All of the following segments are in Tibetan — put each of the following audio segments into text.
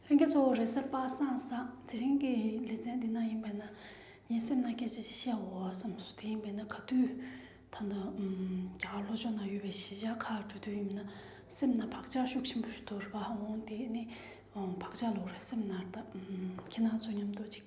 ལྷན་རྒྱས་གཙོ་བོ་རེད་ཟེར་པ་སང་བསམ། དེ་རིང་གི་ལེ་ཚན་འདི་ན་ཡིན་པས་ན། ངའི་སེམས་ནང་སྐད་ཆ་ཞིག་བཤད་འོང་བ་བསམ་སོང་དེ་ཡིན་པས་ན་ག་དུས་ད་ལྟ་རྒྱ་གར་ལྷོ་ཕྱོགས་ན་ཡོད་པའི་གཞིས་ཆགས་ཁག་འགྲོ་དུས་ཡིན་པས་ན་སེམས་ན་བག་ཆགས་ཤུགས་ཆེན་པོ་ཞིག་དོར་བ་འོང་དེ་ནི་བག་ཆགས་ལོག་རེད་སེམས་ནར་ད། ཁྱེད་རྣམས་ཚོ་མཉམ་དུ་གཅིག།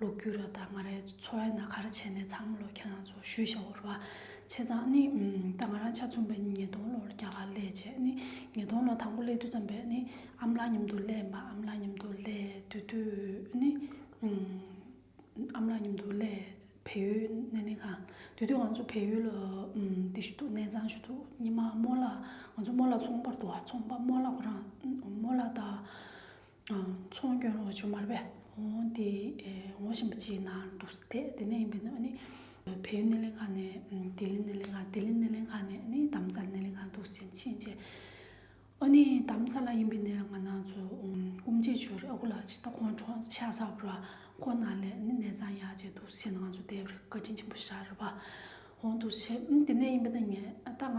ལུག་ཁྱུ་ར་དང་ང་རའི་འཚོ་བའི་ན་ག་ར་བྱས་ནས་འཚར་མ་ལོ་ཁྱེད་རང་ཚོ་ཞུས་བཞག་འོར་བ་བྱས་ཙང་ནི་ད་ང་རང་ཆ་ཚུན་པའི་ཉིས་སྟོང་ལོར་རྒྱ་གར་སླས་རྗེས་ནི་ཉིས་སྟོང་ལོ་དང་པོ་སླས་དུས་ཙམ་པས་ནི་ཨམ་ལག་མཉམ་དུ་སླས་མ་ཨམ་ལག་མཉམ་དུ་སླས་དུས་དུས་ནི་ཨམ་ལག་མཉམ་དུ་སླས་བལ་ཡུལ་ནས་ནི་གང་དུས་དུས་ང་ཚོ་བལ་ཡུལ་འདི་ཞུ་ཐུག་གནས་ཚང་ཞུ་ཐུག་ཉི་མ་རྨོ་ལགས་ང་ཚོ་རྨོ་ལགས་ཚོང་པར་འདུག་བ་ཚོང་པ་རྨོ་ལགས་ཁོ་རང་རྨོ་ལགས་དང་ཚོང་སྐྱོན་ལོག་ཆུ་མར་བལ་འོང་དེ་འོང་བཞིན་པ་ཅིག་ནང་འདུག་ས་དེ་ནས་ཡིན་པས་ན་ནི་བལ་ཡུལ་སྣེ་ལེན་ཁང་ནས་ལྡི་ལི་སྣེ་ལེན་ཁང་ལྡི་ལི་སྣེ་ལེན་ཁང་ནས་ནི་དམ་ཚགས་སྣེ་ལེན་ཁང་འདུག་ཟིན་ཕྱིན་ཆད་ཨོ་ནི་དམ་ཚགས་ལ་ཡིན་པས་ནི་ང་ནང་ཚོ་སྐུ་མཆེད་ཆོས་རིག་ཨ་ཁུ་ལགས་ཅིག་ད་ཁོང་གྲོངས་ས་ཤག་ཚགས་པར་ཁོ་ན་ལས་ནི་གནས་ཚང་ཡག་ཅིག་འདུག་ཟེར་ནང་ཚོ་བསྡད་པར་བཀའ་དྲིན་ཆེན་པོ་ཞག་རེ་བར་འོང་འདུག་ཟེར་དེ་ནས་ཡིན་པས་ན་ངས་ད་ང་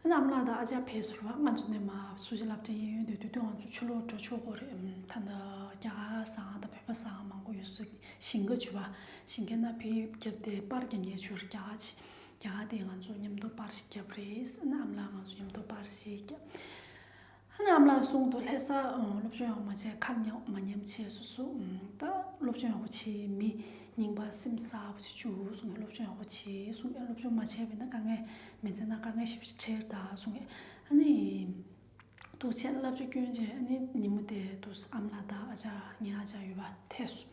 ཨ་ནེ་ཨ་མ་ལགས་དང་ཨ་ཅག་ཕལ་ཟུར་བ་ང་ཚོ་ནས་མ་སུ་ཇི་ལབ་ཀྱི་ཡིན་ཡོད་དུས་དུས་དུས་ང་ཚོ་ཆུ་ལོག་འགྲོ་ཆོག་གོ་རེད་འམ་ད་ནི་རྒྱ་གར་སའང་དང་བོད་པ་སའང་མང་པོ་ཡོད་སུ་ཞིང་ཁ་ཇུ་བ་ཞིང་ཁའི་ན་ཕི་རྒྱབ་སྟེ་པར་གྱི་ངས་ཆུར་རྒྱ་གར་ཆི་རྒྱ་གར་དེ་ང་ཚོ་མཉམ་དུ་པར་ཞིག་རྒྱབ་རེད་ཨ་ནེ་ཨ་མ་ལགས་ང་ཚོ་མཉམ་དུ་པར་ཞིག་རྒྱབ། ཉམས་ལ་སོང་དུ་ལྷས་ས་སློབ་སྦྱོང་ཡག་མ་བྱས་ཁ་མྱག་མ་མཉམ་བྱས་སུ་སུ་ད་སློབ་སྦྱོང་ཡག་པོ་བྱས་མི་ཉིང་པ་སེམས་ས་པོ་བྱེད་ཅུ་སུ་ངས་སློབ་སྦྱོང་ཡག་པོ་བྱས་སུ་ངས་སློབ་སྦྱོང་མ་བྱས་པས་ན་དཀའ་ངལ་མི་མཛད་ན་དཀའ་ངལ་ཞིབ་ཕྱི་ཁྲེར་ད་སུ་ངས་ཨ་ནི་ཏུ་ཆེན་བསླབ་བྱ་སྐྱོན་ཅན་ཨ་ནི་ཉིན་མོ་དེ་ཏུ་ཨམ་ལ་ད་ཨ་ཅག་ངའི་ཨ་ཅག་ཡོད་པ་ཐེས་སུ།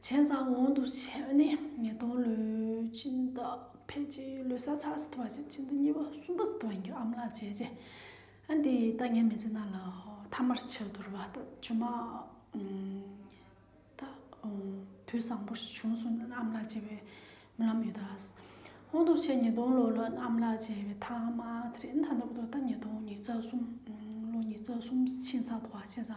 བྱས་ཙང་འོང་དུ་ཆས་པ་ནི་ཉིས་སྟོང་ལོའི་སྤྱི་ཟླ་ཕལ་ཆེ་བའི་ལོའི་ས་ཚགས་སུ་དུ་བ་ཞིག་སྤྱི་ཟླ་གཉིས་པ་གསུམ་པ་སུ་དུ་བ་ཡིན་གྱི་ཨམ་ལག་བྱས་རྗེས་ཨ་འདི་ད་ངས་མི་ཚེ་ནང་ལ་ཐ་མར་ཆས་དུར་བ་ད་ཇོ་མ་ད་དུས་བཟང་པོ་ཞིག་བྱུང་སོང་ཨམ་ལག་བྱས་པའི་རྨི་ལམ་ཡོད་ད་འོང་དུ་ཆས་ཉིས་སྟོང་ལོ་ལ་ཨམ་ལག་བྱས་པའི་ཐ་མ་དེ་རིང་ད་ལྟ་བུ་ད་ད་ཉིས་སྟོང་ཉིས་བརྩ་གསུམ་ལོ་ཉིས་བརྩ་གསུམ་ཕྱིན་ཚར་དུ་བ་བྱས་ཙང།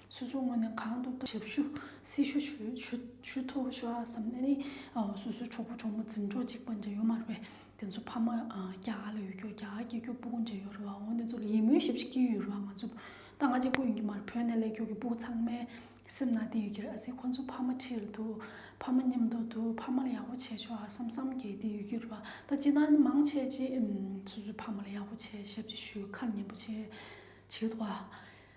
སོ་སོའི་ངོས་ནས་གང་ཐུབ་ཐུབ་ཞབས་ཞུ་སྲི་ཞུ་ཞུ་ཐུབ་ཞུ་ཨ་བསམ་ནས་སོ་སོའི་གྲོགས་པོ་གྲོགས་མོ་འཛིན་གྲོགས་གཅིག་པ་འདྲ་ཡོད་མ་རེད་པས་དེ་ཚོ་ཕ་མ་རྒྱ་གར་ལ་ཡོད་སྐྱོར་རྒྱ་གར་སྐྱེ་སྐྱོར་སྤུ་གུ་འདྲ་ཡོད་རེད་བ་འོ་འདི་ཚོ་ལ་ཡིད་སྨོན་ཞབས་ཞུ་སྐྱིད་ཡོད་རེད་བ་ང་ཚོ་ད་ང་གཅིག་པོ་ཡིན་གྱི་མ་རེད་བོད་ནས་ལས་སྐྱོར་གྱི་སྤུ་གུ་ཚང་མའི་སེམས་ནང་དེ་ཡོད་ཀྱི་རེད་ཨ་ཟེར་ཁོ་ཚོ་ཕ་མ་ཁྲིད་རེད་འདུག་ཕ་མ་ཉམས་དོག་འདུག་ཕ་མ་ལ་ཡག་པོ་བྱས་ཆོག་ཨ་བསམ་བསམ་གྱི་དེ་ཡོད་ཀྱི་རེད་བ་ད་སྤྱི་དང་ནི་མང་ཆེ་གཅིག་སོ་སོའི་ཕ་མ་ལ་ཡག་པོ་བྱས་ཞབས་ཕྱི་ཞུ་ཁ་ཉེན་པོ་བྱེད་བྱེད་འདུག་བ།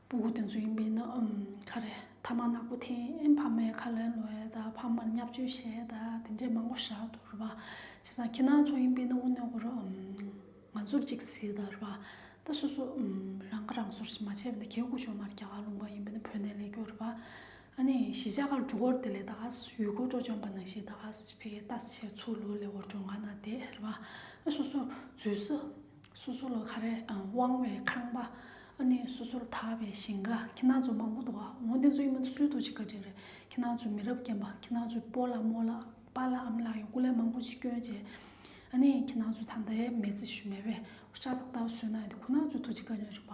སྤུ་གུ་དེ་ཚོ་ཡིན་པས་ན་ཁ་རེད་ཐ་མ་ནག་པོ་ཐེངས་ཕ་མའི་ཁ་ལས་ལོས་ད་ཕ་མར་བསྙབ་བཅོལ་བྱས་ད་དེ་འདྲས་མང་པོ་བཞག་འདུག་རེད་པ་བྱས་ཙང་ཁྱེད་རང་ཚོ་ཡིན་པས་ན་དབུ་མནོ་གོ་རོགས་ང་ཚོར་ཅིག་གཟིགས་ད་རེད་པ་ད་སོ་སོ་རང་ཁ་རང་གསོར་ཞིག་མ་བྱས་པས་ན་གལ་སྒོ་ཕྱོགས་མར་རྒྱ་གར་ལུང་པ་ཡིན་པས་ན་བོད་ནས་ལས་སྐྱོ་རེད་པ་ཨ་ནི་གཞིས་ཆགས་ཁར་འབྲུ་གོར་དེ་ལས་ད་ག་ས་ཡུལ་སྐོར་བྲོ་འཇོམས་པ་ནང་བཞིན་ད་ག་ས་ཕེ་ཁའི་རྟ་ཟེར་ཚུར་ལོ་ལས་འོར་འགྲོ་འགའ་ན་བསྡད་རེད་པ་ཨ་སོ་སོར་བཟོས་ས་སོ་སོ་ལ་ཁ་རས་དབང་བའི་ཁང་པ། ཨ་ནི་སོ་སོར་དག་པའི་ཞིང་ཁ་ཁྱི་ནག་ཚོ་མང་པོ་འདུག་ཨ་འོ་དེ་ཚོ་ཡིན་པ་འདི་སུའི་ཐུགས་ཀྱི་བཀའ་དྲིན་རེད་ཁྱི་ནག་ཚོས་མི་རབས་རྒན་པ་ཁྱི་ནག་ཚོས་པོ་ལ་མོ་ལ་པ་ལ་ཨམ་ལ་ཡང་སྐུ་ལས་མང་པོ་ཅིག་སྐྱོན་བྱས་ཨ་ནི་ཁྱི་ནག་ཚོས་ད་ལྟ་ཡས་མས་རྩི་ཤུ་མེད་པའི་ཤ་དང་རྟ་ཟོས་ན་ཡང་དེ་ཁོ་ནག་ཚོའི་ཐུགས་ཀྱི་བཀའ་དྲིན་རེད་པ་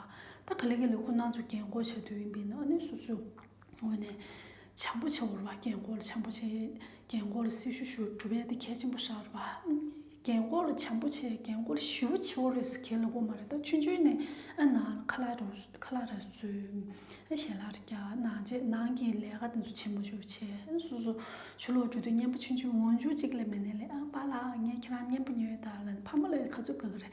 ད་ག་ལེ་ག་ལེ་ཁོ་ནག་ཚོས་རྒན་བསྐོ་བྱ་དུས་ཡིན་པས་ན་ཨ་ནི་སོ་སོས། ངོས་ནས། བྱང་བུ་ཆེ་བོར་བ་རྒན་བཀོལ་བྱང་བུ་ཆེ། རྒན་བཀོལ་སྲི་ཞུ་ཞུ་གྲུ་བས་ཏེ་གལ་ཆེན་པོ་ཧྲལ་བ། རྒན་བཀོལ་བྱང་བུ་ཆེ་རྒན་བཀོལ་ཞི་བུ་ཆེ་བོར་རེ་སི་གལ་ལོ་བོ་མ་རེ་ད་ཆུན་ཆུན་ནས་ཨ་ན་ཁ་ལ་རུ་ཁ་ལ་ར་སུ། ཨ་ཞལ་ལ་ར་ཀྱ་ན་རྗེས་གནང་གི་ལས་ཀ་དེ་ཚོ་བྱེད་མུ་ཅོ་ཆེ་སུ་སུ་ཆུ་ལོག་འགྲོ་དུས་བརྙན་པ་ཆུན་ཆུན་འོང་འཇུག་གཅིག་ལས་མེད་ནས་ལེ་ཨ་པ་ལགས་ངས་ཁྱེད་རང་བརྙན་པ་ཉོས་ད་ལན་ཕ་མ་ལ་ཁ་ཚུགས་ག་གི་རེད་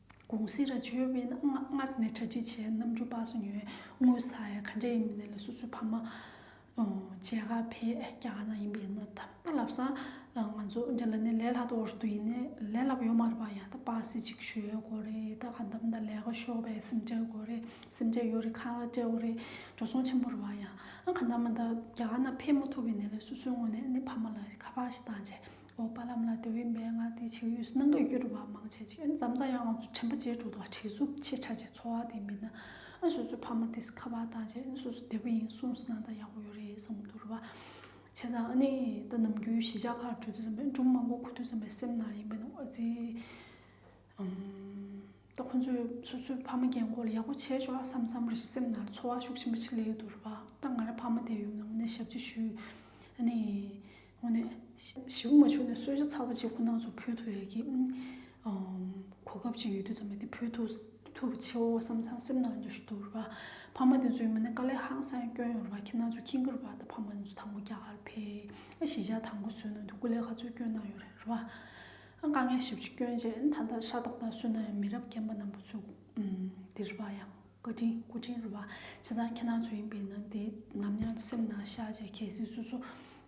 གུང་གསེང་ར་ཆོས་དབེན་ན་སྔ་ས་ནས་གྲ་སྒྲིག་བྱས་ནམ་རྒྱུན་སྤགས་སུ་ཉོས་དངུལ་ཟ་ཡ་ག་འདྲ་ཡིན་མིན་ལ་སོ་སོའི་ཕ་མ་མཇལ་ཁ་ཕེབས་རྒྱ་ག་ན་ཡིན་པའི་ནོར་ད་ལབ་ས་ང་ཚོ་འདི་ལ་ནས་ལས་ལྷག་ཏུ་འོར་དུ་ཡིན་ནས་ལས་ལབ་ཡོད་མ་རེད་པ་ཡང་ད་སྤགས་སེ་ཅིག་ཞུ་ཡོད་དགོས་རེད་ད་ག་འདམ་ད་ལས་ཀ་ཤོག་པའི་སེམས་ཁྲལ་དགོས་རེད་སེམས་ཁྲལ་ཡོད་རེད་ཁ་ལ་སྤྲད་འོ་རེད་འགྲོ་སོང་ཆེན་པོ་རེད་པ་ཡང་ཨ་ག་འདམ་མ་ད་རྒྱ་ག་ན་ཕེབས་མ་ཐུབ་པའི་ནས་ལ་སོ་སོའི་ངོ་ནས་ནས་ཕ་མ་ལ་ཁ་པགས་ཤིག་བཏང་བྱས་ཨོ་པ་ལམ་ལ་དེ་བས་མན་ངག་དེའི་ཕྱིར་ཡོད་སུ་སྣང་གི་རྒྱུ་རུ་བ་མང་ཆེ་གཅིག་ཨེ་འཛམ་ཙང་ཡང་ང་ཚོ་དྲན་པ་ཅེས་དྲུག་དང་བྲིས་གཟུགས་ཆེ་ཆ་བཅས་འཚོ་བ་དེ་མིན་ན་ཨེ་སོ་སོའི་ཕ་མ་དེ་སི་ཁ་བ་དང་བཅས་ཨེ་སོ་སོ་བདེ་པོ་ཡིན་གསུངས་སུ་སྣང་ད་ཡག་པོ་ཡོད་རེད་བསམ་གི་འདུག་རུ་བ་ཆེ་ཚང་ཨ་ནི་ད་ནམ་རྒྱུན་གཞིས་ཆགས་ཁག་དྲུག་དུ་ཙམ་པའི་སྦྲུམ་མ་མགོ་ཁུ་དུས་ཙམ་པའི་སེམས་ནང་ཡིན་པའི་ནང་ཨ་ཙི་ད་ཁོང་ཚོས་སོ་སོའི་ཕ་མ་རྒན་མགོ་ལ་ཡག་པོ་བྱས་ཆོག་ཨ་བསམ་བསམ་རེད་སེམས་ནང་ཚོར་བ་ཤུགས་ཆེན་པོ་ཞིག་སླེབས་ཡོད་དོ་རེད་པ་ད་ང་ར་ཕ་མ་དེ་ཡུལ་ནང་ངོ་ནས་ཞབས་ཕྱི་ཞུས་ཨ་ནི་ངོ་ནས་ཞི་བོ་མ་བྱུང་ནས་གསོལ་ཇ་ཚ་བོ་གཅིག་ཁོ་ནང་ཚོ་ཕུལ་ཐུབ་ཡག་གི་གོ་སྐབས་ཅིག་ཡོད་དུས་ཙམ་ལ་དེ་ཕུལ་ཐུབ་ཐུབ་པ་ཆེའོ་བསམ་བསམ་སེམས་ནང་འདོད་ཞུ་དོ་རེད་པ་ཕ་མ་དེ་ཚོའི་ངོ་ནས་དཀའ་ལས་ཧང་སང་སྐྱོན་ཡོང་རེད་པ་ཁྱེད་ནང་ཚོ་ཁྱི་འགུལ་བ་ད་ཕ་མ་དེ་ཚོ་དང་པོ་རྒྱ་གར་ཕེབས་ཨ་གཞིས་ཆགས་དང་པོ་བཟོས་ནང་དུ་སྐུ་ལས་ཧ་ཚོད་སྐྱོན་གནང་ཡོད་རེད་པ། དཀའ་ངལ་ཞིབ་ཆུ་བསྐྱོན་རྗེས་ད་ལྟ་ཤ་ཏོག་དང་སུན་ནའི་མི་རབས་རྒན་པ་རྣམས་པོ་ཚུར་འདི་རུ་བ་ཡང་བཀའ་དྲིན་སྐུ་དྲིན་རུ་བ་བྱེད་སྟངས་ཁྱེད་རྣམས་ཚོ་ཡིན་པས་ན་དེ་ནམ་ཡང་སེམས་ནང་བཞག་རྗེས་གལ་སྲིད་སུ་སུ་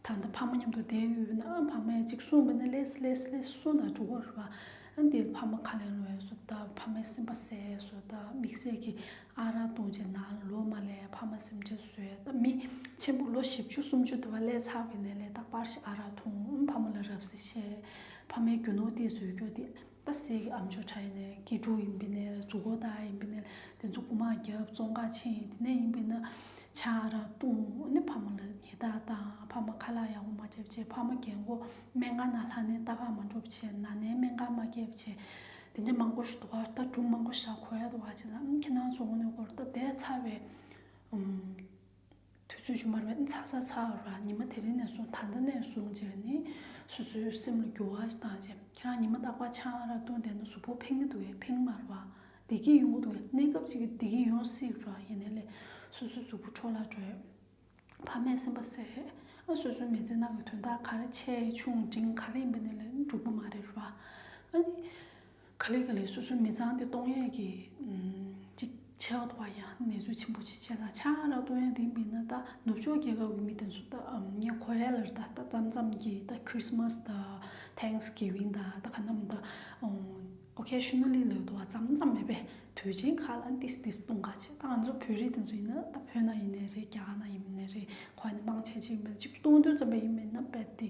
དང་ད་ཕ་མ་མཉམ་དུ་བསྡད་ཡོད་ན་ཕ་མས་གཅིག་གསུངས་པ་ནི་ལེས་ལེས་ལེས་གསུངས་དང་འགྲོ་གོ་རུ་བ་འདིར་ཕ་མ་ཁ་ལེན་ལོས་སུ་ད་ཕ་མའི་སེམས་པ་ཟས་སུ་ད་མིག་ཟས་ཀྱི་ཨ་རག་བཏུང་རྗེས་ན་ལོ་མ་ལས་ཕ་མ་སེམས་ཁྲལ་བཟོས་ད་མི་ཆེན་པོ་ལོ་བཞི་བཅུ་སུམ་ཅུ་དུ་བ་ལས་ཚར་བས་ན་ལས་རྟག་པར་ཞིག་ཨ་རག་འཐུང་ཕ་མ་ལ་རབ་གཟིགས་བྱས། ཕ་མའི་རྒྱུ་ནོར་ཏེ་ཟོལ་ཀྱོ་ཏེ། རྟ་སེལ་གྱི་ཨ་མཆོག་ཁྲ་ཡིན་ནས་སྐྱིད་དྲུག་ཡིན་པས་ནས་གཟུགས་འཁོར་སྟག་ཡིན་པས་ནས་དེ་ཚོ་རྐུ་མ་རྒྱབ་བཙོང་ཁ་ཆེ་ཡིན་དེ་ནས་ཡིན་པས་ན་ཕྱག་ར་བཏུང་ནས་ཕ་མ་ལ་ཉེས་རྟགས་བཏང་ཕ་མ་ཁ་ལག་ཡག་པོ་མ་བརྒྱབ་བྱས་ཕ་མ་རྒན་མགོ་སྨད་ང་ན་ལྷ་ནའི་རྟ་ཁ་མ་འགྲོབ་བྱས་ན་ནའི་སྨད་ཁ་མ་རྒྱབ་བྱས་དེ་ནས་མ་མགོ་ཞུ་དོ་རྟ་དྲུག་མ་མགོ་ཞག་གོ་ཡ་དོ་བ་བྱས་ན་ཁྱེད་རང་ཚོ་ངོ་ནས་གོ་རྟ་བདས་ཚར་བས། དུས་ཚོད་བཅུ་མར་བས་ཚ་ཚ་ཚ་ར་ཉི་མ་དེ་རིང་ནས་བཟུང་ད་ལྟ་ནས་བཟུང་བཅས་ནི་སོ་སོའི་སེམས་ལ་འགྱུར་བ་ཞིག་བཏང་རྗེས་ཁྱེད་རང་ཉི་མ་རྟག་པར་ཆང་རག་བཏུངས་བསྡད་ན་གཟུགས་པོ་ཕིང་གི་འདུག་གས་ཕིང་མར་བ་བདེ་སྐྱིད་ཡོང་གི་འདུག་གས་གནས་སྐབས་ཅིག་བདེ་སྐྱིད་ཡོང་སྲིད་ར་ཡིན་ནས་ལས་སོ་སོའི་གཟུགས་པོ་འཕྲོ་བརླག་འགྲོ་ཡས་ཕ་མས་སེམས་པ་བསད་ཨ་སོ་སོའི་མི་ཚེ་ནང་གི་དོན་དག་ག་རེ་ཆེ་ཆུང་འབྲིང་ག་རེ་ཡིན་པ་ནས་ལས་འགྲུབ་པ་མ་རེད་ར་ཨ་ནི། ཁ་ལས་ཁ་ལས་སོ་སོའི་མི་ཚང་དེ་སྟོང་ཡས་ཀྱི་ཅིག་ཆགས་འདུག་པ་ཡང་ནེ་ཙོའི་ཆེན་པོ་ཆེ་ཆེ་ལ་ཆ་ལ་སྟོང་ཡས་དེ་མིན་ན་ད་ནུབ་ཕྱོགས་རྒྱལ་ཁབ་ཀྱི་མི་དེ་ཚོ་ད་ཁོ་རེ་ལ་ད་ད་ཙམ་ཙམ་གྱི་ད་ཁྲི་སི་མཱས་ད་ཐེངས་གིས་བིན་ད་ད་ག་ནམ་ད་ཨོ་ཁེ་ཤི་ནོ་ལི་ལོས་དུ་བ་ཙམ་ཙམ་མེད་པས་དུས་ཆེན་ཁག་ལ་འདིས་འདིས་སྟོང་ག་ཆེ་ད་ང་ཚོ་བོད་རིགས་དེ་ཚོ་ཡིན་ན་ད་བོད་ནང་ཡིན་ནའི་རེད་རྒྱ་གར་ནང་ཡིན་ནའི་རེད་ཁོ་ཧ་ནི་དམངས་ཆེན་ཅིག་མེད་ཅིག་སྟོང་དུས་ཙམ་པ་ཡིན་མིན་ན་རྦད་དེ།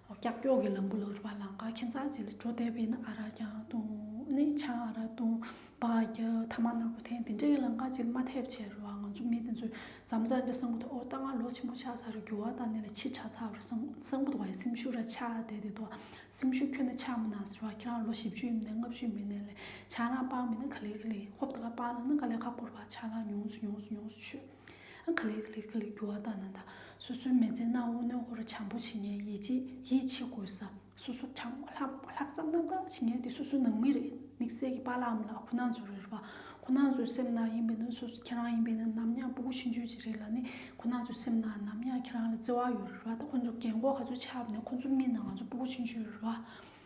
ཀྱག་ཀྱོག་གི་ལམ་བུ་ལ་རུ་བ་ལང་ཀ་ཁྱེད་ཚགས་ཅི་ལ་འགྲོ་བསྡད་པའི་ནི་ཨ་ར་རྒྱ་དུང་ནི་ཆ་ཨ་ར་དུང་བ་རྒྱ་ཐ་མ་ནག་པོ་ཐེངས་དེ་འདྲའི་ལང་ཀ་ཅིར་མ་ཐེབས་བྱས་རུ་བ་ང་ཚོ་མི་དེ་ཚོས་འཇམ་རྩ་འདྲ་སང་བུ་དོ་ཨོ་ལྟ་ང་ལོ་ཆེན་པོ་ཆགས་ཚར་རུ་འགྱུར་བ་ལྟ་ནི་ལ་ཕྱི་ཆ་ཚགས་རུ་སང་སང་བུ་དོ་བ་ཡི་སེམས་ཤུགས་ར་ཆགས་བསྡད་དེ་དོ་སེམས་ཤུགས་ཁྱོད་ནི་ཆགས་མི་ནག་ཟེར་བ་ཁྱེད་རང་ལོ་བཞི་བཅུ་ཡིན་ནི་ལྔ་བཅུ་མིན་ནི་ལ་ཆ་རང་སྤང་མིན་ནི་ག་ལེ་ག་ལེ་ཧོབ་ཏུ་ཁ་སྤང་ལ་ནི་ག་ལེ་ཁ་བསྐོར་བ་ཆགས་ལ་ཉུང་སུ་ཉུང་སུ་ཉུང་སུ་ཆུད། ཁ་ལིག་ཁ་ལིག་ཁ་ལིག་རྒྱུ་བ་ལྟ་ན་ད་སོ་སོའི་མེ་ལྕེ་སྣ་བོ་སྣོད་ཧོར་བྱང་བུ་བྱེ་ངན་ཡིད་ཆེས་ཡིད་ཆེས་དགོས་ས་སོ་སོ་དྲང་ལྷག་ཙམ་རྣམ་དག་བྱེ་ངན་དེ་སོ་སོའི་ནང་མི་རེད་དམིགས་བསལ་གྱི་པ་ལའམ་ལ་ཁོ་ན་ཚོ་རེད་པ་ཁོ་ན་ཚོའི་སེམས་ནང་ཡིན་པའི་ན་སོ་སོ་ཁྱེད་རང་ཡིན་པའི་ན་ནམ་ཡང་སྤུ་གུ་ཕྱི་འཇུས་བྱེ་རེད་ལ་ནི་ཁོ་ན་ཚོའི་སེམས་ནང་ནམ་ཡང་ཁྱེད་རང་ལ་བརྩེ་བ་ཡོད་རེད་པ་ད་ཁོ་ཚོ་རྒན་གོག་ག་ཚོད་ཆགས་པ་ནས་ཁོ་ཚོ་མིན་ན་ང་ཚོ་སྤུ་གུ་ཕྱི་འཇུས་རེད་པ་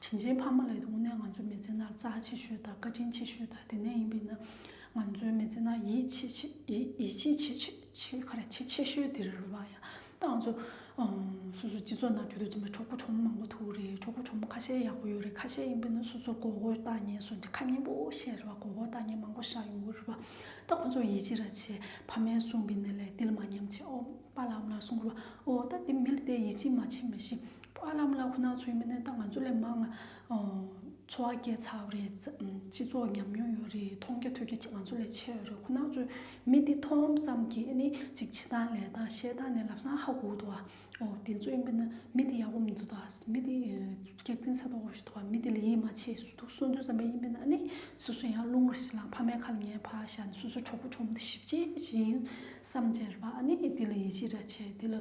བྱིན་ཆེན་ཕ་མ་ལས་དབུ་ནས་ང་ཚོའི་མི་ཚེ་ན་རྩ་ཆེ་ཤོས་དང་བཀའ་དྲིན་ཆེ་ཤོས་དང་དེ་ནས་ཡིན་པས་ན་ང་ཚོའི་མི་ཚེ་ན་ཡིད་ཆེས་ཆེས་ཁ་ར་ཆེས་ཆེ་ཤོས་དེ་རེད་བ་ཡ། ད་ང་ཚོ་སོ་སོའི་སྤྱི་ཚོགས་ནང་བརྒྱུད་དུ་འཛོམས་པའི་གྲོགས་པོ་གྲོགས་མོ་མང་པོ་ཐུག་རེད་གྲོགས་པོ་གྲོགས་མོ་ཁ་ཤས་ཡག་པོ་ཡོད་རེད་ཁ་ཤས་ཡིན་པས་ན་སོ་སོར་གོ་གོ་ལྟ་ཉན་སོ་ཁ་སྙན་པོ་བཤད་རེད་བ་གོ་གོ་ལྟ་ཉན་མང་པོ་བཞག་ཡོང་གི་རེད་བ། ད་ཁོ་ཚོ་ཡིད་ཆེས་ར་ཆེ་ཕ་མའི་གསུང་གི་ནས་ལས་ཏིལ་མ་ཉམས་ཆེ་ཨོ། པ་ལམ་ལ་སོང་རོགས། འོ་ད་དེ་མི་ལ་དེ་ཡིད་ཆེས་མ་བྱེད་མི་ཤེས། པ་ལམ་ལ་ཁོ་ན་ཚོའི་མི་ནི་ད་ང་ཚོ་ལས་མང། འཚོ་བ་སྐྱེལ་ཚར་རེད། སྤྱི་ཚོགས་ཉམས་མྱོང་ཡོད་རེད། མཐོང་རྒྱ་ཐོས་རྒྱ་ང་ཚོ་ལས་ཆེ་བ་རེད། ཁོ་ན་ཚོའི་མི་དེ་མཐོང་ཙམ་གྱིས་ནི་ཅིག་བྱེད་སྟངས་ལས་སྟངས་བཤད་སྟངས་ནི་ལབ་སངས་ཧ་གོ་འདུག་ཨ། འོ་དེ་ཚོའི་མི་ནི་མི་དེ་ཡག་པོ་མི་འདུག་ད། མི་དེ་སྐྱག་རྫིན་ས་དོག་ཞིག་འདུག་མི་དེ་ལ་ཡིད་མ་ཆེས་སུ་འདུག་སུ་འདུག་བསམ་པའི་ཡིད་མི་ན་ནི་སུ་སུ་ཡང་རླུང་རེ་ཞིག་ལངས་ཕ་མའི་ཁ་ལ་ཉལ་ཕ་ཞག་ནི་སུ་སུ་གྲོགས་པོ་གྲོགས་མོ་དེ་ཞིབ་ཅིག་བྱེད་ཡིན། བསམ་འཆར་བ་ནི་དེ་ལ་ཡིད་ཆེས་ར་བྱེད་དེ་ལ་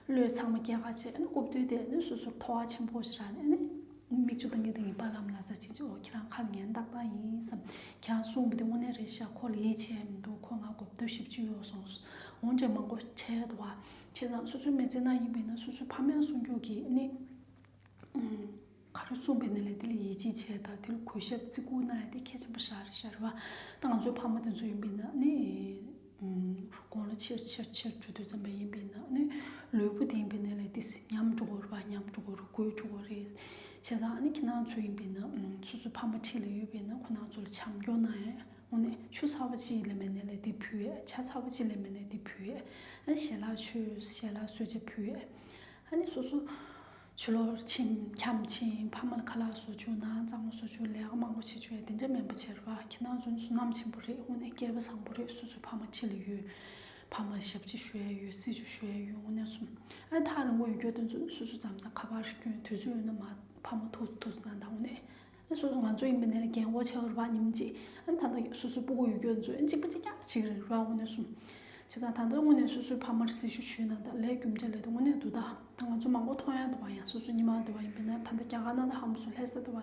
བློས་ཚང་མ་སྐྱེད་ཁ་བྱེད་ནི་རྐུབ་སྟོད་དེ་ནི་སོ་སོར་མཐོ་བ་ཆེན་པོ་ཞེས་ར་ནི་མིག་ཆུ་དང་གི་དང་གི་པ་ལམ་ལ་ཟ་བྱེད་ཅིག་འོ་ཁྱེད་རང་ཁ་ལ་ངན་བཏགས་པ་ཡིན་བསམ་ཁྱེད་རང་གསུངས་པ་དེ་དངོས་གནས་རེད་ཤག་ཁོ་ལ་ཡིད་ཆེས་མི་འདུག་ཁོ་ང་རྐུབ་སྟོད་བཞི་བཅུ་ཡོད་སོང་འོན་ཀྱང་མང་པོ་ཁྲེལ་བ་བྱེད་ཙང་སོ་སོའི་མེ་ལྕེ་ནག་ཡིན་པས་ན་སོ་སོའི་ཕ་མེས་སྲུང་སྐྱོབ་ཀྱིས་ནི། ཁ་རུ་གསུངས་པའི་ནི་ལས་དེ་ལ་ཡིད་ཆེས་བྱས་དང་དེ་ལ་གུས་ཞབས་བརྩི་བཀུར་གནང་ཡོད་དེ་གལ་ཆེན་པོ་ཤར་བ། ད་ང་ཚོའི་ཕ་མ་དེ་ཚོ་ཡིན་པས་ན་ནི། དགོངས་ལ་ཆེར་ཆེར་ཆེར་འཇུག་འདོད་བརྩམས་པ་ཡིན་པས་ན་ནི། ལུས་པོ་བདེན་པའི་ནི་ལས་དེ་ཉམས་འགྲོ་དགོས་པ་ཉམས་འགྲོ་དགོས་རུ་དགོས་འགྲོ་དགོས་རེད། བྱས་ཙང་ནི་ཁྱེད་རང་ཚོ་ཡིན་པས་ན་སོ་སོའི་ཕ་མ་འཁྲིས་ལ་ཡོད་པས་ན་ཁོ་རང་ཚོ་ལ་བྱམས་སྐྱོང་གནང་ཡོད་ངོ་ནི་ཆུ་ཚ་བོ་གཅིག་ལས་མེད་ནི་ལས་དེ་ཕུལ་ཡོད་ཆ་ཚ་བོ་གཅིག་ལས་མེད་ནི་དེ་ཕུལ་ཡོད། ཞལ་ལག་ཆོས་ཞལ་ལག་གསོལ་ཇ་ཕུལ་ཡོད། ཨ་ནི་སོ་སོ། ཆུ་ལོག་ཕྱིན་འཁྱམས་ཕྱིན་ཕ་མ་ལ་ཁ་ལག་བཟོ་ཆུ་ནང་གཙང་མ་བཟོ་ཆུ་ལས་ཀ་མང་པོ་བྱེད་ཆུ་ཡ་དེ་འདྲ་མེད་པ་བྱེད་རོགས་ཨ་ཁྱེད་ནང་བཟོ་ནི་བསོད་ནམས་ཆེན་པོ་རེད་དངོས་གནས་སྐལ་པ་བཟང་པོ་རེད་སོ་སོའི་ཕ་མ་ཁྱི་ལ་ཡོད། ཕ་མ་ལ་ཞབས་ཕྱི་ཞུ་ཡ་ཡོད་སྲིད་ཆུ་ཞུ་ཡ་ཡོད་དངོས་གནས་གསུམ་ཨ་ཐག་རིང་པོ་ཡོད་སྐྱོ་དོན་བཟོ་ནི་སོ་སོའི་འཛམ་ཐང་ཁ་པར་སྐྱོན་དུས་ཚོད་ཡོད་ན་མ་ཕ་མ་ཐུགས་སུ་ཐུགས་སུ་ན་ད་དངོས་གནས་ཨ་སོ་སོ་ང་ཚོ་ཡིན་པ་ནས་རྒན་བོ་ཆེ་བ་རུ་བ་ཉིམ་གཅིག་ཨ་ཐ་ན་སོ་སོའི་སྤུ་གུ་ཡུལ་སྐྱོར་མཛོད་གཅིག་པ་གཅིག་ཀྱང་གཅིག་རེད་རུ་བ་དངོས་གནས་གསུམ་བྱས་ཙང་ད་ལྟ་དངོས་གནས་སོ་སོའི་ཕ་མར་སྲི་ཞུ་ཞུས་ན་ད་ལས་རྒྱུ་འབྲས་ལས་ད་དངོས་གནས་སྡུག་ད་ད་ང་ཚོ་མང་པོ་མཐོང་ཡང་དུ་བ་ཡང་སོ་སོ་ཉི་མ་དུ་བ་ཡིན་པ་ནས་ད་ད་རྒྱ་གར་ནང་ད་ཧམ་སོ་ལྷས་ས་དུ་བ་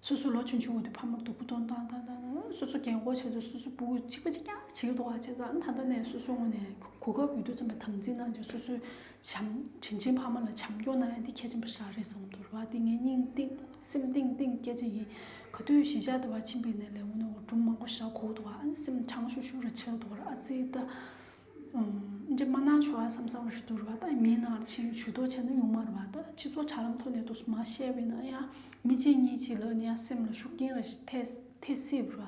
སོ་སོ་ལོ་ཆུང་ཆུང་བ་དུ་ཕ་མར་སྡུག་པོ་གཏོང་ད་ད་ད་ད་སོ་སོ་རྒན་བོ་ཆེ་དུ་སོ་སོའི་སྤུ་གུ་གཅིག་པ་གཅིག་ཀྱང་གཅིག་རུ་བ་བྱས་ཙང་ད་ལྟ་ནས་སོ་སོ་དངོས་གནས་གོ་སྐབས་ཡོད་དུ་ཙམ་པ་དམ་འཛིན་གནང་སྟེ་སོ་སོའི་བྱམས། དྲིན་ཆེན་ཕ་མ་ལ་བྱམས་སྐྱོང་གནང་ཡ་འདི་གལ་ཆེན་པོ་ཞག་རེ་ཟུང་དུ་རུ་བ་འདི་ངའི་སྙིང་གཏིང་སེམས་གཏིང་གཏིང་སྐྱེ་ཅན་ཡིན། ག་དུས་གཞིས་ཆགས་དུ་བ་ཕྱིན་པའི་ནས་ལས་ངོ་ནོ་སྒྲུང་མང་པོ་ཞག་གོ་དུ་བ་ཨན་སེམས་ཁྲང་ཤུག་ཤུག་ར་ཆལ་དུ་བར་ཨ་ཙི་ཏ། འདྲེ་མ་ནང་ཆོ་ཨ་སམ་སམ་ར་ཤུ་དུ་རུ་བ་ཏ་མི་ཡི་ནང་ར་ཆེན་ཡུ་ཆུ་དོ་ཆེ་ན་ཡུང་མ་རུ་བ་ཏ་ཕྱི་ཚོ་དྲ་ལམ་ཐོ་ནས་དུ་སུ་མ་ཤེ་བའི་ན་ཡ་མི་ཅན་གཉིས་ཅི་ལ་ནི་ཡ་སེམས་ལ་ཤུག་རྐྱེན་ར་ཐེ་སེ་རུ་བ།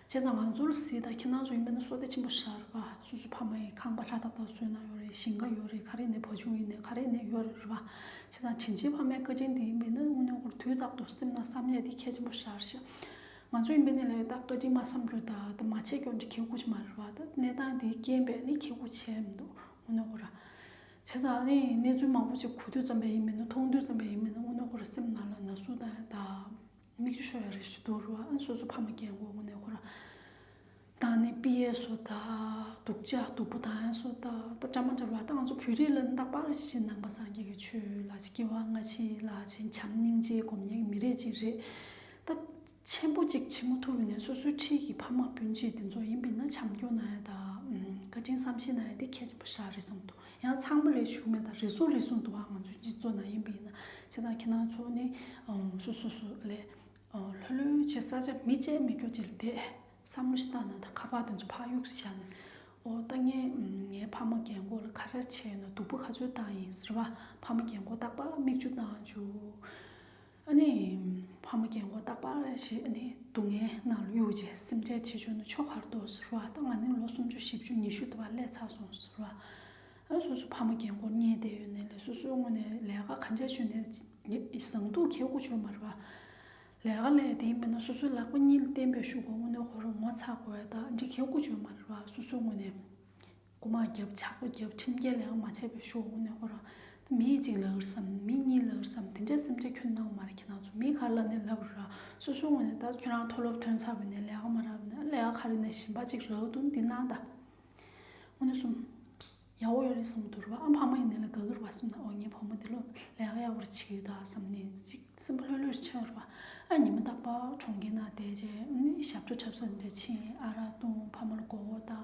བྱས་ཙང་ང་ཚོར་གཟིགས་དང་ཁྱེད་རང་ཚོ་ཡིན་པས་ན་གསོ་སྤེལ་ཆེན་པོ་ཤར་བ་སོ་སོའི་ཕ་མ་ཡི་ཁང་པ་ལྷ་ཐག་ཐག་བཟོས་གནང་ཡོད་རེད་ཞིང་ཁ་ཡོད་རེད་ག་རེ་ནས་བ་ཆུང་ཡིན་ནས་ག་རེ་ནས་ཡོད་རེད་བ། བྱས་ཙང་དྲིན་ཆེན་ཕ་མའི་བཀའ་དྲིན་དེ་ཡིན་པས་ན་དངུལ་ནོར་ཁོར་དུས་རྟག་ཏུ་སེམས་ན་བསམ་ཡས་དེ་ཁྱད་ཆེན་པོ་ཤར་ཤག་ང་ཚོ་ཡིན་པས་ནས་ལས་ཡོད་དག་བཀའ་དྲིན་མ་བསམ་རྒྱུ་དག་དེ་མ་བྱས་སྐྱོན་དེ་ཁྱེད་ཁུག་ཆེ་མ་རེད་བ་ད་གནས་སྟངས་དེའི་རྐྱེན་པས་ནི་ཁྱེད་ཁུག་ཆེ་མི་འདུག་དངུལ་ནོར་ཁོ་ར། བྱས་ཙང་ནི་གནས་ཚུལ་མང་པོ་ཅིག་གོ་དུས་ཙམ་པས་ཡིན་པས་ན་མཐོང་དུས་ཙམ་པས་ཡིན་པས་ན་དངུལ་ནོར་ཁོ་ར་སེམས་ན་ལ་ན་ཟུག་དང་དག། མིག་ཆུ་ཤོར་བའི་རིགས་ཆུ་དོར་བ་སོ་སོ་ཕ་མ་སྐྱེ་དགུ་དངོས་གནས་ཁོ་རང་དང་ནི་པི་ཡའི་སོ་ད་སྡུག་ཅག་སྡུག་པོ་དང་ཡང་སོ་ད་ད་ཅག་མ་འདྲ་བ་ད་ང་ཚོ་བོད་རིགས་ལ་ད་པར་ཞི་བྱེད་ནང་པ་སངས་རྒྱས་ཀྱི་ཆོས་ལ་ཅི་སྐྱེ་བ་སྔ་ཕྱི་ལ་ཅི་བྱམས་སྙིང་རྗེའི་སྒོམ་ཉེས་ཀྱི་མི་རེད་ཅིག་རེད་ད། ཆེན་པོ་ཅིག་ཕྱི་མོ་ཐུར་ནས་སོ་སོའི་འཁྲིས་ཀྱི་ཕ་མ་སྤུན་མཆེད་འདི་ཚོ་ཡིན་པི་ན་བྱམས་སྐྱོ་ན་ཡ་ད་བཀའ་དྲིན་བསམ་ཤེས་ན་ཡ་དེ་གལ་ཆེན་པོ་ཤག་རེད་བསམ་འདུག་ཡང་ཚང་མ་རེ་ཞུ་མེད་ད་རེ་ཟུང་རེ་ཟུང་དུ་ཨང་ང་ཚོའི་སྤྱི་ཚོགས་ནང་ཡིན་པ་ཡིན་ན་ཤེས་ད་ཁྱེད་རང་ཚོ་ནི་སུ་སུ་སུ་ལས་ལྷོད་ལྷོད་བྱེད་ས་ཆ་མི་བྱེད་མི་རྒྱུག་བྱེད་དེ་བསམ་བློ་ཞིག་བཏང་ན་ད་ཁ་པར་དེ་ཚོ་ཕ་གཡུག་ཞིག་བཞག་ནས་ཨོ་ད་ངས་ངའི་ཕ་མ་རྒན་གོག་ལ་ཁ་རལ་བྱས་ན་སྡུག་པོ་ག་ཚོད་བཏང་ཡིན་ཟེར་བ་ཕ་མ་རྒན་གོག་རྟག་པར་མིག་ཆུ་བཏང་བྱུང། ཨ་ནེ། ཕ་མ་རྒན་མགོ་བཏགས་པ་ཞིག་ཨ་ནེ་སྡུག་བསྔལ་ངང་ལ་གཡུགས་རྗེས་སེམས་ཁྲལ་བྱེད་ཆོག་ན་ཆོག་གར་འདུག་ཟེར་བ་དང་ང་ནི་ལོ་སུམ་ཅུ་བཞི་བཅུ་ཉི་ཤུ་འདུག་པ་ལས་ཚར་སོང་ཟེར་བ། སོ་སོའི་ཕ་མ་རྒན་མགོར་བསྙད་བསྡད་ཡོད་ནའི་ལས་སོ་སོའི་སྔུན་ནས་ལས་ཀ་ག་འཇགས་བྱོས་ནས་བཟང་འདུག་ཁྱེད་སྐུ་ཆུང་མ་རེད་པ། ལས་ཀ་ལས་དེ་མིན་ན་སོ་སོའི་ལག་པ་གཉིས་ལ་བརྟེན་པའི་ཞུགས་པ་སྔུན་ནས་ཁོ་རང་ངོ་ཚ་དགོས་ད་འདྲི་ཁྱེད་སྐུ་ཆུང་མ་རེད་པ་སོ་སོའི་སྔུན་ནས། སྒོ་མ་བརྒྱབ་ཕྱག་པ་བརྒྱབ་ཁྲིམས་འགལ་ཡང་མ་བྱས་པའི་ཤོག་བུ་ནས་ཁོ་རང། མི་གཅིག་ལག་རི་སམ་མི་གཉིས་ལག་རི་སམ་དེ་འདྲའི་སེམས་ཆ་ཁྱོད་ནང་མ་རེད་ཁྱེད་ནང་ཆུ་མིག་ག་ལ་ནས་ལབ་རི་ར་སོ་སོའི་ངོས་ནས་ད་ཁྱོད་རང་མཐོ་སློབ་ཐོན་ཚར་བས་ནས་ལས་ཀ་མ་རག་ན་ལས་ཀ་ག་རེ་ནས་ཞིམ་པ་ཅིག་རག་འདུག་འདི་གནང་ད། དངོས་གནས་གསུམ། ཡ་ཨོ་ཡོ་རི་སམ་དུ་རུ་བ་ཨ་ཕ་མ་ཡིན་ནས་ལ་དགའ་གི་རུ་བ་སེམས་ན་ཨོ་ངའི་བུ་མོ་འདི་ལོ་ལས་ཀ་ཡག་པོ་རེ་བྱེད་ཀྱི་ཡོད་ད་བསམ་ནས་ཅིག་སེམས་པ་ལྷོད་ལྷོད་རེ་ཕྱིན་རུ་བ་ཨ་ཉི་མ་རྟག་པ་གྲོང་ཁྱེར་ནང་བསྡད་རྗེས་ཞབས་བྲོ་འཁྲབ་ས་འདི་འདྲ་ཕྱིན་ཨ་ར་བཏུང་ཕ་མ་ལ་མགོ་བོ་བཏགས།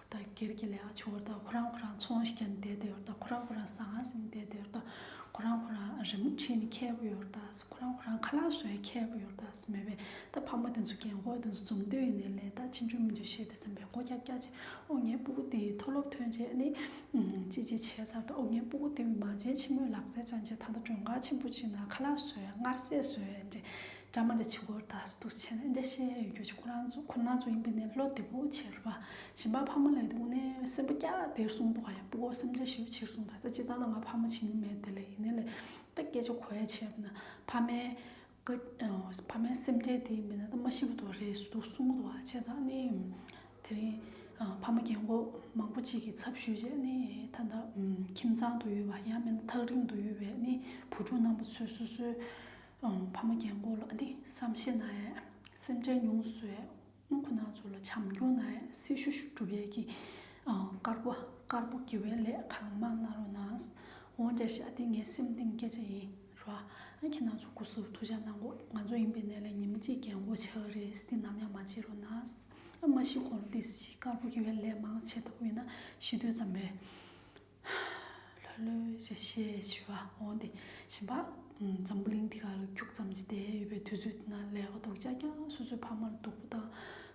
ད་གེར་གྱི་ལས་ཀ་ཆུ་བོར་དང་ཁོ་རང་ཁོ་རང་ཚོང་ཞིག་ཀྱང་འདེད་དེ་ཡོད་དང་ཁོ་རང་ཁོ་རང་ཟ་ང་ཟིག་འདེད་དེ་ཡོད་དང་ཁོ་རང་ཁོ་རང་རི་མོ་བྲིས་ནས་མཁས་པོ་ཡོད་དང་ཁོ་རང་ཁོ་རང་ཁ་ལག་བཟོས་མཁས་པོ་ཡོད་དང་མེད་པས་ད་ཕ་མ་དེ་ཚོ་རྒན་ཁོག་དེ་ཚོ་འཛོམས་དུས་ཡིན་ནའི་ལས་དག་ཅི་འཇུག་མི་འཇུག་ཤེས་ཏེ་སེམས་པའི་སྒོ་སྐྱ་སྐྱ་བྱས་ཨོ་ངའི་སྤུ་གུ་དེའི་མཐོ་སློབ་ཐོན་རྗེས་ནི། ཅི་ཅི་བྱས་ཚར་དུ་ཨོ་ངའི་སྤུ་གུ་དེ་འོས་མ་བྱས་ཕྱི་མོའི་ལག་རྩལ་སྦྱངས་རྗེས་ད་ལྟ་མགྲོན་ཁང་ཆེན་པོ་ཅིག་ན་ཁ་ལག་བཟོས་ངར་སེར་བཟོས། བཀྲ་མ་ལས་ཕྱི་སྐོར་དག་སུ་དུ་ཆེ་ན་རྒྱ་ཤེས་ཡོད་རྒྱུ་ཁོ་རང་ཚོ་ཁོ་ན་ཚོ་ཡིན་པས་ནས་བློ་བདེ་པོ་ཕྱིར་བ་ཞིམ་པ་ཕ་མ་ལས་འདུག་ནས་སེམས་པ་སྐྱ་བདེར་སོང་འདུག་ག་ཡང་སྤུ་གོ་སེམས་ཅན་ཞིག་ཕྱིར་སོང་ད་ལྟ་སྤྱི་བཏང་ན་ང་ཕ་མ་བྱིན་ནི་མེད་དེ་ལས་ཡིན་ནས་ལས་ད་སྐད་ཆ་གོ་ཡ་བྱས་ན་ཕ་མའི་ཕ་མའི་སེམས་ཁྲལ་དེ་མེད་ན་ད་མ་ཤི་བོ་དོ་རེད་སུ་དུ་སོང་འདུག་ག་བྱས་ད་ནི་དེ་རིང་ཕ་མ་རྒན་གོག་མང་པོ་གཅིག་གི་ཚབ་ཞུས་རྗེས་ནི་ད་ལྟ་ཁྱིམ་ཚང་དུ་ཡོད་པ་ཡང་མིན་ཐག་རིང་དུ་ཡོད་པའི་ནི་བུ་ཕྲུག་རྣམ་པ་ཚོས་སོ་སོའི། ཕ་མ་རྒན་འཁོགས་ལ་ནི་བསམ་ཤེས་ན་ཡང་སེམས་ཅན་ཉུང་གསོའི་དབུ་ཁུང་ནག་ཚོ་ལ་བྱམས་སྐྱོང་ན་ཡང་སྲི་ཞུ་ཞུ་གྲུབ་ཡས་ཀྱི་དཀར་པོ་དཀར་པོ་དགེ་བའི་ལས་གང་མང་གནང་རོགས་གནང། འོང་རྒྱ་བཞག་འདི་ངའི་སེམས་གཏིང་སྐད་ཆ་ཡིན། རོགས་ཁྱེད་རྣམས་ཚོ་སྐུ་གཟུགས་ཐུགས་ཅག་གནང་གོ་ང་ཚོ་ཡིན་པའི་གནས་ལས་ཉིན་མོ་གཅིག་རྒན་འཁོགས་ཆགས་རེས་འདི་ནམ་ཡང་མ་བྱེད་རོགས་གནང། མ་གཞི་གོང་རོ་འདི་བཞིན་དཀར་པོ་དགེ་བའི་ལས་མང་ཆེ་ཐུབ་ཡོད་ན་ཤི་དུས་ཙམ་རེད། ལྷོད་ལྷོད་ཞེས་བཤད་ཞུ་བ་འོང་སྟེ་བྱིན་པ། འཛམ་བུ་གླིང་འདི་ག་ལ་ཁྱུག་ཙམ་གྱིས་བསྡད་ཡོད་པའི་དུས་ཚོད་འདི་ན་ལས་ཀ་རྡོག་ཅག་ཀྱང་སོ་སོའི་ཕ་མར་སྡུག་པོ་དང།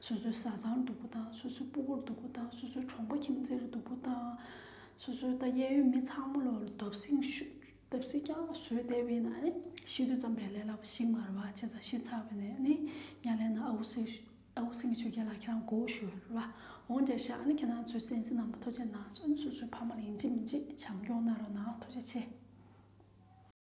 སོ་སོའི་བཟའ་ཚང་སྡུག་པོ་དང་སོ་སོའི་སྤུ་བོར་སྡུག་པོ་དང་སོ་སོའི་གྲོང་པ་ཁྱིམ་མཚེར་སྡུག་པོ་དང། སོ་སོའི་ད་གཡས་གཡོན་མི་ཚང་མ་ལོར་རྡོབ་གསིང་རྡོབ་གསིག་ཀྱང་བཟོས་བསྡད་པས་ན་ནི་ཤི་དུས་ཙམ་པའི་ལས་སླ་པོ་ཞིག་མ་རེད་བ་བྱས་ཙང་ཤི་ཚར་བས་ནི་གཉའ་ལེན་ན་ཨ་བུ་སེར་ད་འུ་སེམས་ཀྱི་ཆོས་རྒྱལ་ལགས་ཁྱེད་རང་མགོ་བོ་ཞུ་རུ་ལ་འོང་རྒྱ་ཤག་ཨ་ནི་ཁྱེད་རང་ཚོའི་སེམས་ཅན་རྣམས་པ་ཐུགས་རྗེ་གནང་སོན་སོ་སོའི་ཕ་མ་ལ་ཡིན་གཅིག་མིན་གཅིག་བྱམས་སྐྱོང་གནང་རོགས་གནང་ཐུགས་རྗེ་ཆེ།